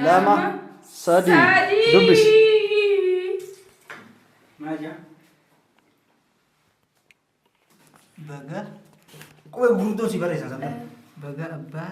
lama sadii dubbis baga qubee gurguddoo si barreessan sana baga abbaa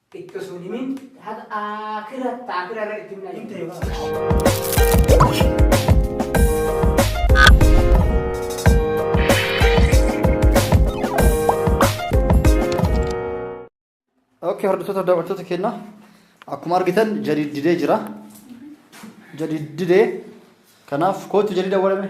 Xiqqo sun himin haga aakira taakira irra itti himna himte yoo. Ookee hordoftoota daawwattoota keenya akkuma argitan jadiid didee jira. Jadiid didee kanaaf kootu jadiida walame.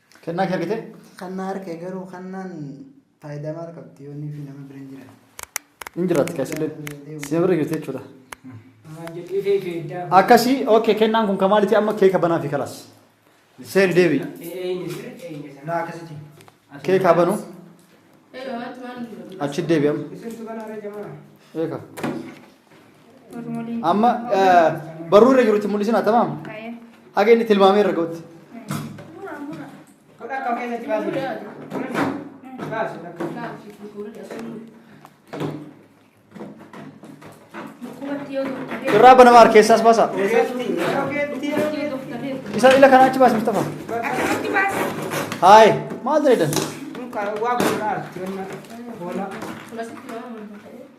Kennaa kee argite? Kannaa arke garuu kannaan faayidaa maal qabdi yoo inni fi nama bira hin jiran. Hin jiraatti kaasillee. Si bira jirti jechuudha. Maal jedhee ta'e feeddaa. Akkasii okay kennaan kun kamaalitii amma keeka banaa fi kalaas. Seeri deebi'i. Eeyni sir eeyni sir. Naa akkasitti. Keekaa banuu Ee, waan waan achi deebi'ama. Isirtu kana irra jamaa. Eeka. Amma barruu irra jirutti mul'isina tamam. Haga inni tilmaamee irra ga'utti. Godha akka keessatti baasii. Baasi. Irraa banama harkeessaas baasaa. Isa ila kanaa achi baasi Mustafa. Haay maal ta'e dan? Waa godhaa. Hoolaa.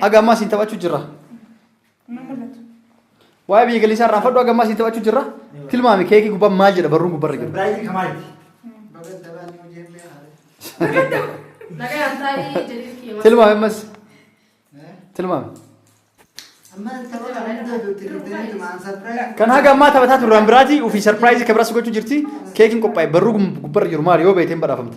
Haga ammaa siin taphachuu jirra. Nama mul'atu. Waa'ee biyya galiisaa irraa fadhu haga ammaa siin taphachuu jirra. Tilmaami keekii gubbaan maal jedha barruun gubbarra jiru. Biraayitii kamaati. Nagaan taa'ii jedhee kiyya. Tilmaami ammas. Tilmaami. Kan haga ammaa taphataa turre waan biraati ofii sarpiraayizii kan biraas gochuu jirti. Keekiin qophaa'e barruu gubbarra jiru maali yoo beekteen badhaafamta.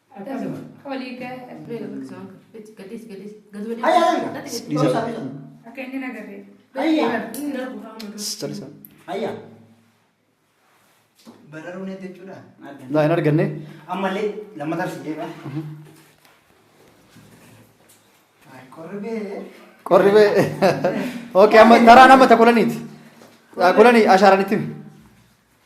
Bararuu neetti jechuudha. Laa hin arganne. Ammallee lammataa si deema. Qorribee. Qorri bee. Ookee amma taraan amma ta kulaniiti. Kulanii ashaaraan itti himi.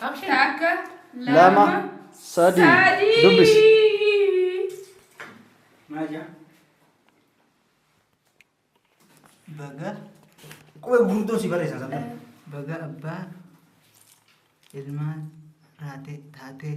Takka, lama, sadii. sadii. Dubbisi. Maal jaa? Baga qubee gurguddoo si barreessan sabba. Baga abbaa ilmaan taatee taatee.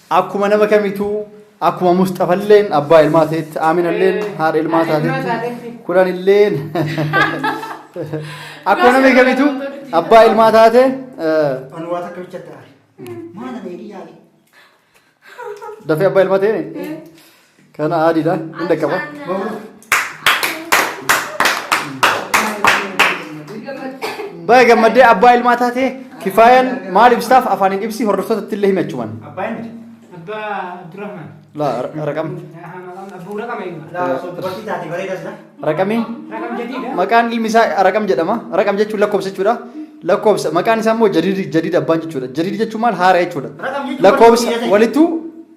Akkuma nama kamituu akkuma musxafalleen abbaa ilmaa ta'etti aaminalleen haadha ilmaa taatetti kulanilleen akkuma nama kamituu abbaa ilmaa taate Anwaata akka bicha ta'a. Maana meedii yaali. dafee abbaa ilmaa ta'e Kana adiidha. Hin dhaqqaba. Baga gammaddee abbaa ilmaa taatee kifaayaan maal ibsaaf afaan hin ibsi hordoftoota itti illee himachuman. Abbaan miti. Abbaa Abdurrahman. Laa raqam. Abbuu raqama ilma. Laa osoo dubartii taate bareeda sila. Raqamii. Raqam jadiidha. Maqaan ilmi isaa raqam jedhama. Raqam jechuun lakkoofsa jechuudha. Lakkoofsa maqaan isaa immoo jadiid jadiid abbaan jechuudha. Jadiid jechuun maal haara jechuudha. Raqam jechuun Lakkoofsa walitti hidhate. walittuu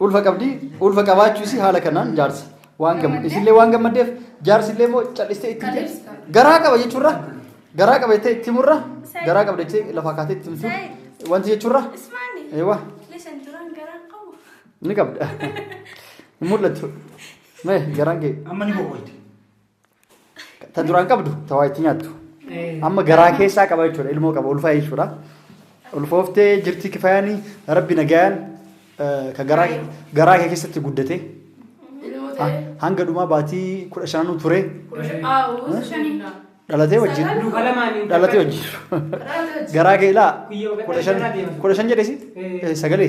Ulfa qabdi. Ulfa qabaachuu isii haala kanaan jaarsa. Waan gammade. Isillee waan gammaddeef jaarsi illee immoo cal'istee itti himte. Garaa qaba jechuurra. Garaa qaba jettee itti himurra. Garaa qabda jettee lafa kaatee itti himtu. Wanti jechuurra. Eewwa. Ni qabda. Hin mul'attu. Mee garaan kee. Amma ni boqoyte. Ta duraan qabdu ta waa itti nyaattu. Amma garaa keessaa qaba jechuudha ilmoo qaba ulfaa jechuudha. Ulfooftee jirti kifaayanii rabbi nagayaan eh, ka garaa garaa kee keessatti guddate Ilmoo ha- ta'ee. hanga dhumaa baatii kudha shananuu ture Aawuu shanii. dhalatee wajjin Sagal. Duuka lamaanii. dhalatee wajjin Raata hojii. garaa kee ilaa Guyyoo kudha shan gadhee irraa deemtu. kudha shan jedhesi Eh. sagalee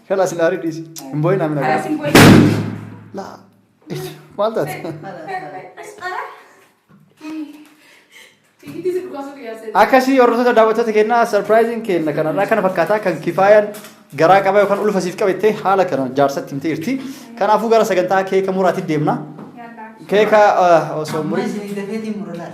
Kana sin aari dhiisi. Hin boo'in amina. Karaa sin boo'in. Laa. Maal taate? Fiigitii si dhukaasuu kiyyaa seetu. Akkasii hordoftoota daawwattoota keenyaa sarpiraayiziin keenya kanarraa kana fakkaataa kan kifaayaan garaa qaba yookaan ulfa siif qabattee haala kana jaarsatti himtee jirti. Kanaafuu gara sagantaa keeka muraatti deemna. Yaallaan. Keeka eh, osoo Amma murii isin dafeetiin mura laal.